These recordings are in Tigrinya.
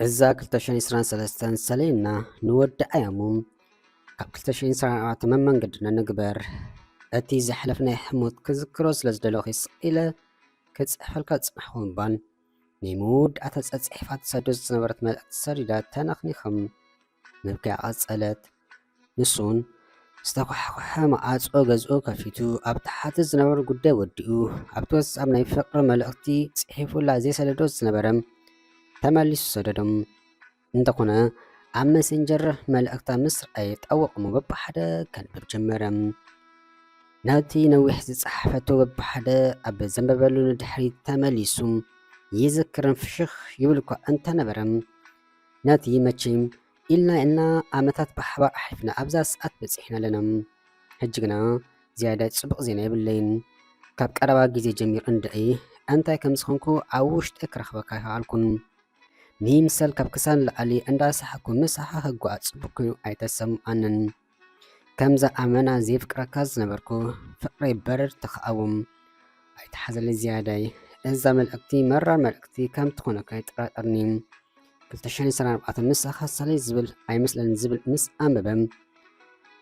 እዛ 223 ሰሌና ንወዲ ኣያሙ ኣብ 224 መመንገዲ ንንግበር እቲ ዘሕለፍ ናይ ሕሞት ክዝክሮ ስለ ዝደለኹ ስኢለ ክፅሕፈልካ ዝፅናሕኹ እምባን ናይ መወዳእታ ፀፅሒፋ ትሰዶ ዝነበረት መልእኽቲ ሰዲዳ ተነኽኒኽም ምብኪያ ቀጸለት። ንሱውን ዝተዃሕኰሐ መዓጾ ገዝኡ ከፊቱ ኣብ ተሓተ ዝነበረ ጉዳይ ወዲኡ ኣብቲ ወትስኣብ ናይ ፍቕሪ መልእኽቲ ጽሒፉላ ዘይሰደዶ ዝነበረ ተመሊሱ ሰደዶም። እንተኾነ ኣብ መሰንጀር መልእኽታ ምስ ረኣየ ጠውቕ እሞ በብሓደ ከንብብ ጀመረ። ነቲ ነዊሕ ዝጸሓፈቶ በብሓደ ኣብ ዘንበበሉ ንድሕሪት ተመሊሱ ይዝክርን ፍሽኽ ይብልኳ እንተነበረ ናቲ መቼም ኢልና ኢልና ዓመታት ብሓባር ኣሕሊፍና ኣብዛ ሰዓት በጺሕና ኣለና ሕጂ ግና ዝያዳ ጽቡቕ ዜና የብለይን ካብ ቀረባ ግዜ ጀሚሩ እንድዒ ኣንታይ ከም ዝኾንኩ ኣብ ውሽጢ ክረኽበካ ይኸኣልኩን ንይምሰል ካብ ክሳን ላዕሊ እንዳሳሓኩ ምሳኻ ክጓዓዝ ጽቡቕ ኮይኑ ኣይተሰምዓንን ከምዛ ኣመና ዘይፍቅረካ ዝነበርኩ ፍቅረይ በረድ ተኸኣውም ኣይተሓዘለይ ዝያዳይ እዛ መልእክቲ መራር መልእክቲ ከም ትኾነካ ይጠራጠርኒ ክልተ ሽሕን ዕስራን ኣርባዕተ ምሳኻ ሰለይ ዝብል ኣይመስለንን ዝብል ምስ ኣንበበም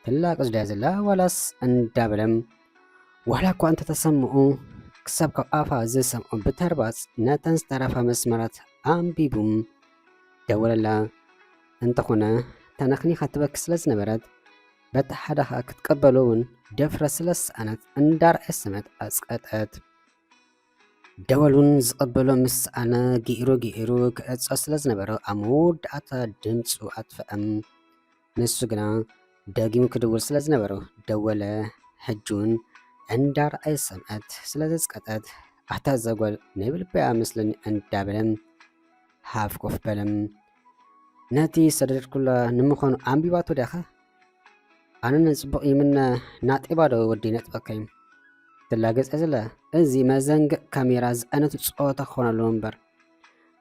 ትላቅ ዝዳያ ዘላ ዋላስ እንዳበለም ዋላ እኳ እንተተሰምዑ ክሳብ ካብ ኣፋ ዝሰምዑ ብተርባጽ ነተን ዝተረፋ መስመራት ኣንቢቡም ደወለላ እንተኾነ ተነኽኒኻ ትበኪ ስለ ዝነበረት በቲ ሓደ ኸኣ ክትቀበሎ እውን ደፍረ ስለ ዝሰኣነት እንዳርዐሰመት ኣጽቀጠት። ደወል እውን ዝቐበሎ ምስ ሰኣነ ገይሩ ገይሩ ክዕጾ ስለ ዝነበሮ ኣብ መወዳእታ ድምጹ ኣጥፍኣም። ንሱ ግና ደጊሙ ክድውል ስለ ዝነበሮ ደወለ። ሕጂ እውን እንዳርዐሰመት ስለ ዘጽቀጠት ኣታ እዛ ጓል ናይ ብልበይ ኣመስለኒ እንዳበለ ሃፍ ኮፍ በለ። ነቲ ዝሰደድኩላ ንምዃኑ ኣንቢባቶ ድያ ከ? ኣነ ንጽቡቕ ይምነ ናጤባ ዶ ወዲ ነጥበከዩ ትላገጸ ዘላ እዚ መዘንግዕ ካሜራ ዝኣነቱ ጸወታ ክኾን ኣለዎ እምበር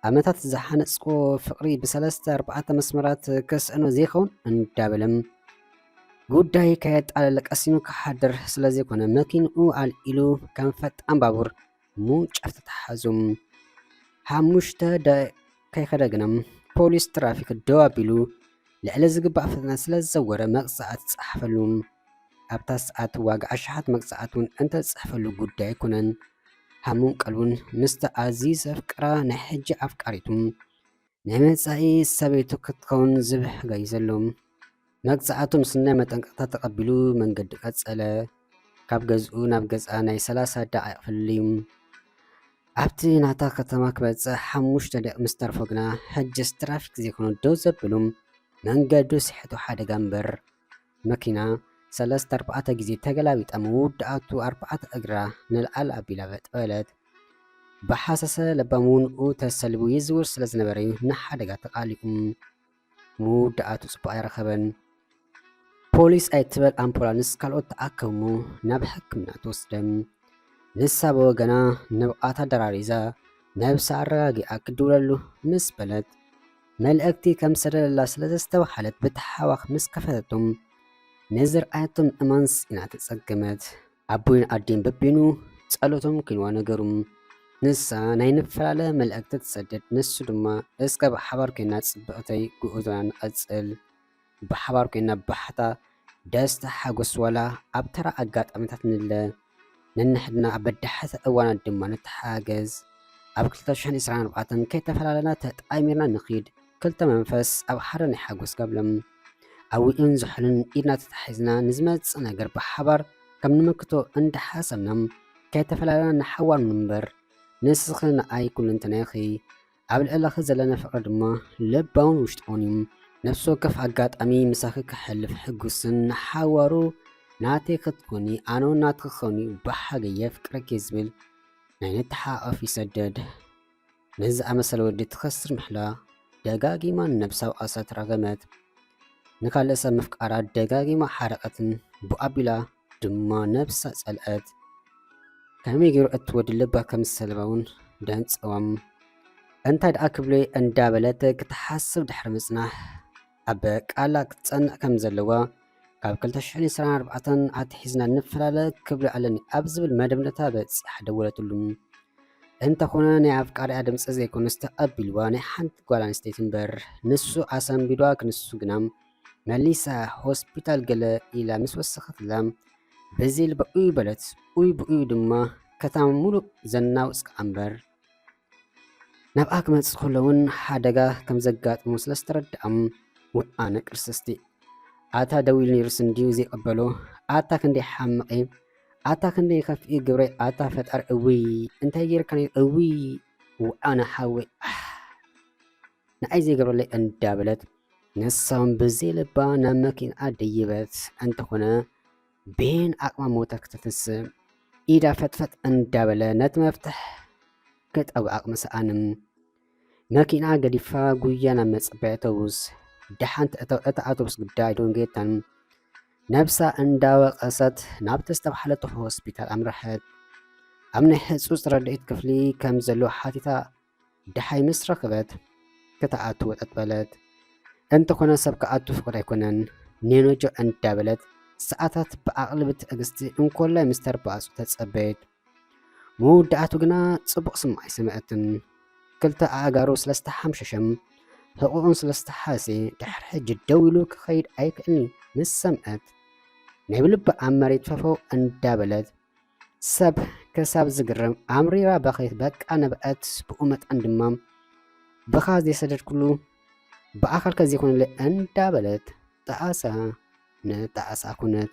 ኣመታት ዝሓነጽዎ ፍቕሪ ብሰለስተ ኣርባዕተ መስመራት ከስዕኖ ዘይኸውን እንዳበለም ጉዳይ ከየጣለለ ቀሲኑ ክሓድር ስለ ዘይኮነ መኪንኡ ኣልኢሉ ከም ፈጣን ባቡር ምውንጫፍ ተተሓዙ። ሓሙሽተ ደቂቕ ከይከደ ግና ፖሊስ ትራፊክ ደው ኣቢሉ ልዕሊ ዝግባእ ፍጥነት ስለ ዝዘወረ መቕጻዕቲ ተጻሓፈሉ። ኣብታ ሰዓት ዋጋ ኣሽሓት መቕጻዕቲ እውን እንተተጻሕፈሉ ጉዳይ ኣይኮነን። ሃሙን ቀልቡን ምስታ ኣዝዩ ዘፍቅራ ናይ ሕጂ ኣፍቃሪቱ ናይ መጻኢ ሰበይቱ ክትከውን ዝብሕ ገይዘሉ። መቅጻዕቱ ምስ ናይ መጠንቀቕታ ተቐቢሉ መንገዱ ቀጸለ። ካብ ገዝኡ ናብ ገዝኣ ናይ ሰላሳ ደቓይቕ ፍልልዩ። ኣብቲ ናታ ከተማ ክበጽሕ ሓሙሽተ ደቂቕ ምስ ተርፎ ግና ሕጅስ ትራፊክ ዘይኮነ ደው ዘብሉ መንገዱ ስሕቱ ሓደጋ እምበር መኪና ሰለስተ ኣርባዕተ ግዜ ተገላቢጣ ምውዳኣቱ ኣርባዕተ እግራ ንላዕሊ ኣቢላ በጥ በለት። ብሃሰሰ ለባምውንኡ ተሰሊቡ ይዝውር ስለ ዝነበረ ንሓደጋ ተቓሊዑ ምውዳኣቱ ጽቡቕ ኣይረኸበን። ፖሊስ ኣይትበል ኣምቡላንስ ካልኦት ተኣከቡ ናብ ሕክምና ተወስደ። ንሳ ብወገና ንብቓታ ደራሪዛ ነብሳ ኣረጋጊኣ ክድውለሉ ምስ በለት መልእኽቲ ከም ዝሰደደላ ስለ ዘስተብሃለት ብተሓዋኽ ምስ ከፈተቶም ንዝርኣየቶም እማንስ ኢና ተጸገመት። ኣቦይን ኣዴን በቢኑ ጸሎቶም ኪንዋ ነገሩም። ንሳ ናይ ንፈላለ መልእኽቲ ትሰድድ፣ ንሱ ድማ እስከ ብሓባር ኴንና ጽብቕተይ ጉዕዞና ንቐጽል፣ ብሓባር ኮይና ባህታ ደስታ ሓጎስ ዋላ ኣብ ተራ ኣጋጣሚታት ንለ ነንሕድና ኣብ በዳሕቲ እዋናት ድማ ንተሓጋገዝ ኣብ ክልተ ሽሕን ዕስራን ኣርባዕተን ከይተፈላለና ተጣሚርና ንኺድ ክልተ መንፈስ ኣብ ሓደ ናይ ሓጎስ ጋብለም ኣዊኡን ዝሑልን ኢድና ተታሒዝና ንዝመጽእ ነገር ብሓባር ከም ንምክቶ እንዳሓሰብና ከይተፈላለና ንሓዋር ንንበር ንስኺ ንኣይ ኩልንትናኺ ኣብ ልዕለኺ ዘለኒ ፍቕሪ ድማ ልባውን ውሽጣውን እዩ። ነፍሲ ወከፍ ኣጋጣሚ ምሳኺ ከሕልፍ ሕጉስን ንሓዋሩ ናተይ ክትኮኒ ኣነውን ናትኪ ክኸውን እዩ ብሓገይ የፍቅረኪ ዝብል ናይ ንተሓቛቐፍ ይሰደድ። ነዚ ዝኣመሰለ ወዲ ትኸስር ምሕላ ደጋጊማ ንነብሳ ወቐሰት፣ ረገመት። ንካልእ ሰብ ምፍቃራ ደጋጊማ ሓረቐትን ብኡ ኣቢላ ድማ ነብሳ ጸልኣት ከመይ ገይሩ እትወዲ ልባ ከም ዝሰለባውን ደንጸዎም እንታይ ደኣ ክብሎ እንዳበለት ክትሓስብ ድሕሪ ምጽናሕ ኣብ ቃላ ክትጸንዕ ከም ዘለዋ ካብ 224 ኣትሒዝና ንፈላለ ክብሎ ኣለኒ ኣብ ዝብል መደምደታ በጺሓ ደወለትሉ እንተኾነ ናይ ኣፍቃሪኣ ድምፂ ዘይኮነስ ተቐቢልዋ ናይ ሓንቲ ጓል ኣንስተይቲ እምበር ንሱ ኣሰንቢዷ ክንሱ ግና መሊሳ ሆስፒታል ገለ ኢላ ምስ ወሰኸትላ በዚል ብኡይ በለት። ኡይ ብኡይ ድማ ከተማ ሙሉእ ዘናውጽካ ኣምበር ናብኣ ክመጽእ ከሎ እውን ሓደጋ ከም ዘጋጥሙ ስለ ዝተረድኣም ውኣ ነቅርስስቲ ኣታ ደው ኢሉ ነይሩስ እንድዩ ዘይቀበሎ ኣታ ክንደይ ሓምቐ ኣታ ክንደይ ከፍኢ ግብረ ኣታ ፈጣሪ እውይ እንታይ ጌርካ እውይ ውዓነ ሓወይ ንዓይ ዘይገብረለይ እንዳበለት ንሳውን ብዘይ ልባ ናብ መኪንኣ ደይበት እንተኾነ ቤን ዓቕማ ሞተር ክትፍስም ኢዳ ፈጥፈጥ እንዳበለ ነቲ መፍትሕ ክጠብ ዓቕሚ ሰኣንም መኪና ገዲፋ ጉያ ናብ መጸበያ ኣውቶቡስ ደሓንቲ እታ ኣውቶቡስ ጉዳይ ደንጌታን ነብሳ እንዳወቀሰት ናብቲ ዝተባሓለቶ ሆስፒታል ኣምረሐት። ኣብ ናይ ህጹጽ ረድኤት ክፍሊ ከም ዘሎ ሓቲታ ደሓይ ምስ ረኸበት ክትኣቱ ወጠጥ በለት። እንተኾነ ሰብ ክኣቱ ፍቕድ ኣይኮነን ኔኖጆ እንዳበለት ሰዓታት ብኣቕልቢ ትዕግስቲ እንኮላይ ምስ ተርባኣጹ ተጸበየት። መወዳእቱ ግና ጽቡቕ ስም ኣይሰምዐትን። ክልተ ኣእጋሩ ስለ ዝተሓምሸሸም ሕቑኡን ስለ ዝተሓሰ ድሕሪ ሕጂ ደው ኢሉ ክኸይድ ኣይክእልኒ ምስ ሰምዐት ናይ ብልቢ ኣብ መሬት ፈፈው እንዳበለት ሰብ ክሳብ ዝግረም ኣምሪራ በኸየት በቃ ነበዐት ብኡ መጠን ድማ ብኻ ዘይሰደድኩሉ ብኣኻል ከዚኾነለ እንዳበለት ጣዕሳ ንጣዕሳ ኮነት።